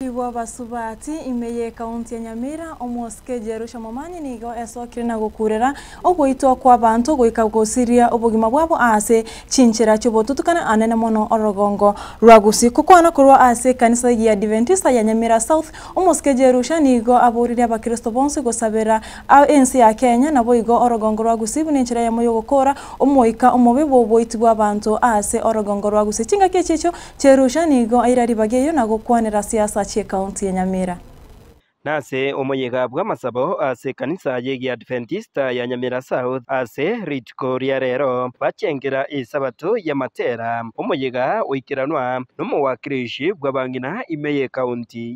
Naboigo basubati ime y'ekaunti ya Nyamira, omosike Jerusha Momanyi nigo esokire na gokurera ogoitwa kw'abanto goika gosiria obogima bwabo aase chinchera chi'obotutukana anene mono orogongo rwa gusii. Gokwana korwa ase ekanisa y'Eadventista ya Nyamira South, omosike Jerusha nigo aboririe abakristo bonsi gosabera ense ya Kenya naboigo orogongo rwa gusii buna enchera yamo y'ogokoora omoika omobe bw'oboiti bw'abanto aase orogongo rwa gusii. Chingaki echicho Cherusha nigo aira ribaga eyio na gokwanera siasa chi'ekaunti ya Nyamira. Nase omoyega bw'amasabo ase ekanisa y'egiadventista ya Nyamira South ase rituko ria rero bachengera Esabato ya Matera, omoyega oikeranwa nomowakirishi bw'abang'ina ime y'ekaunti.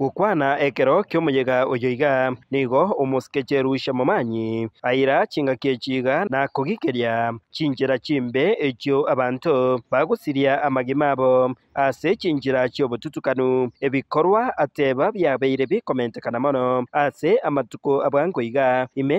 Gokwana ekero ki'omoyega oyo iga, nigo omosikecheru Shamomani aira chingaki echi iga na kogigeria chinchera chimbe echio abanto bagosiria amagima abo ase chinchera chi'obotutukanu, ebikorwa ateba biabeire bikomentekana mono ase amatuko a bwango iga, ime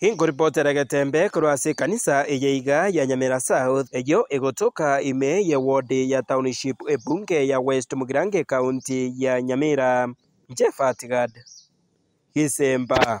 Inkoripotere egetembe korwa ase ekanisa eye iga ya Nyamira South, eyio egotoka ime ye wodi ya Township Ebunge ya West Mugirange County ya Nyamira. Jeff Atgard, Gisemba.